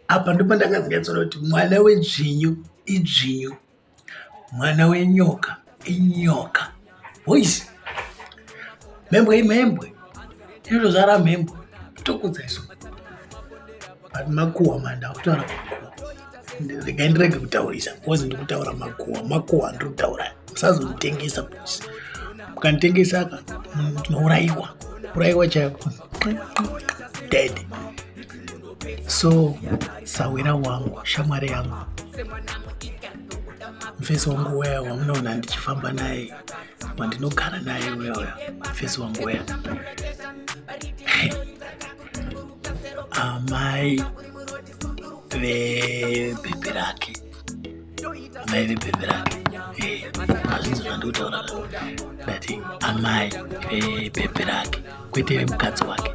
apa ndipo ndakazikatsora kuti mwana wedzvinyu idzvinyu mwana wenyoka inyoka voice mhembwe imhembwe inotozvara mhembwe tokudza isu but makuwa manda kutaura makuwa regai ndirege kutaurisa bcause ndiri kutaura makuwa makuwa ndiri kutaura musazonditengesa bcause mukanditengesa ka munourayiwa urayiwa chaiko dead so sahwira wangu shamwari yangu mfesi wangu weya wamunoona ndichifamba naye wandinogara naye weya mfesi wangu weya amai vebhebhi rake vaivipembera azvinzira ndikutaura ndati amai vepeperake kwete vemukadzi wake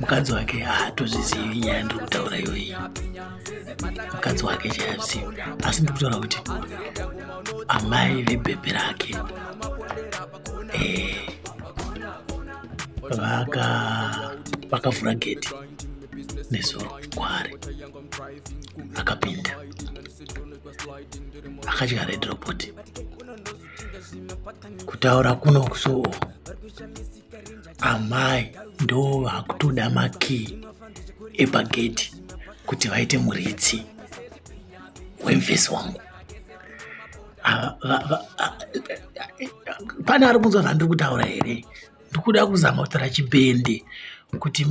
mukadzi wake haatozvizivi nyaya ndiri kutaura iyoyi mukadzi wake chaazivi asi ndiri kutaura kuti amai vebhebhe rake eh, vakavhura geti nezuro kwaari akapinda akadya red robot kutaura kuno kuso amai ndo vakutoda makii epagedhi kuti vaite muridzi wemvesi wangu pane ari kunzwa zvandiri kutaura here ndikuda kuzama kutara chibhende kuti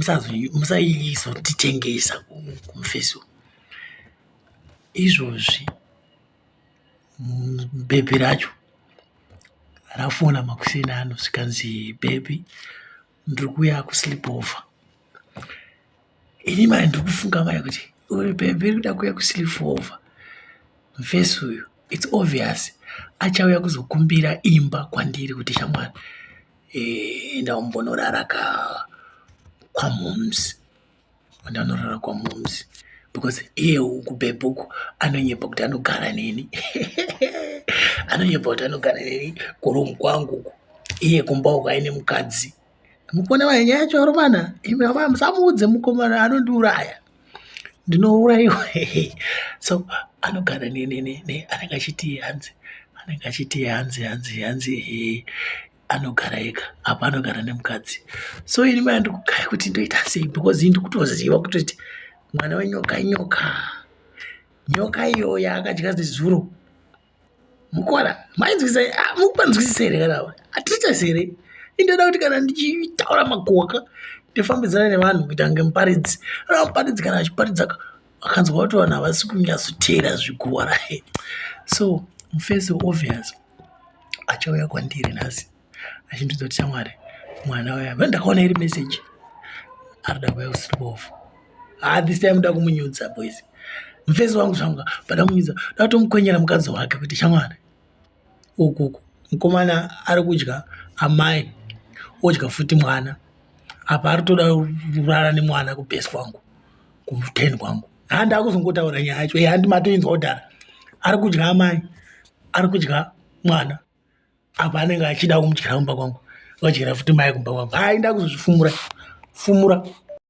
musaiizotitengesa kumufesi izvozvi bhebhi racho rafona makuseni ano zvikanzi bhebhi ndiri kuuya kusleep over ini mari ndiri kufunga mari kuti uri pemberi kuda kuuya kusilifova mfesi uyu its obvious achauya kuzokumbira imba kwandiri kuti shamwana eh, enda umbonorara ka kwamoms enda unorara kwamoms because iye uku bebhuku anonyepa kuti anogara neni anonyepa kuti anogara neni kuromu kwangu uku iye kumba uku aine mukadzi Mukona waye nyaya choro mana imi baba musamuudze mukomana anondiuraya. Ndinouraiwa so anogara ne ne ne ne anenge achiti hanzi anenge achiti hanzi hanzi hanzi eh, anogara ega apa anogara nemukadzi so ini maya ndikugaya kuti ndoita sei because ini ndikutoziva kutoti mwana wenyoka inyoka nyoka iyo yaakadya zezuro mukwana mainzwisisa ah, mukupanzwisisa here kana atichasi here indoda kuti kana ndichitaura makoka ndifambidzana nevanhu kuita kunge muparidzi ana muparidzi kana achiparidza akanzwa kuti vanhu havasi kunyatsoteera zvikuwara so mufesi obvious achauya kwandiri nhasi achindiudza kuti shamwari mwana uya vani ndakaona iri message ari da kuya kusiribofu ha ah, this time da kumunyudza boys mufesi wangu zvangu pada kumunyudza da kutomukwenyera mukadzi wake kuti shamwari ukuku mukomana ari kudya amai odya futi mwana apa ari toda kurara nemwana kubhesi kwangu kuten kwangu ha ndakuzongotaura nyaya yacho handi matoinzwa kudhara ari kudya amai ari kudya mwana apa anenge achida kumudyira kumba kwangu vadyira futi mai kumba kwangu hai ndakuzozvifumura fumura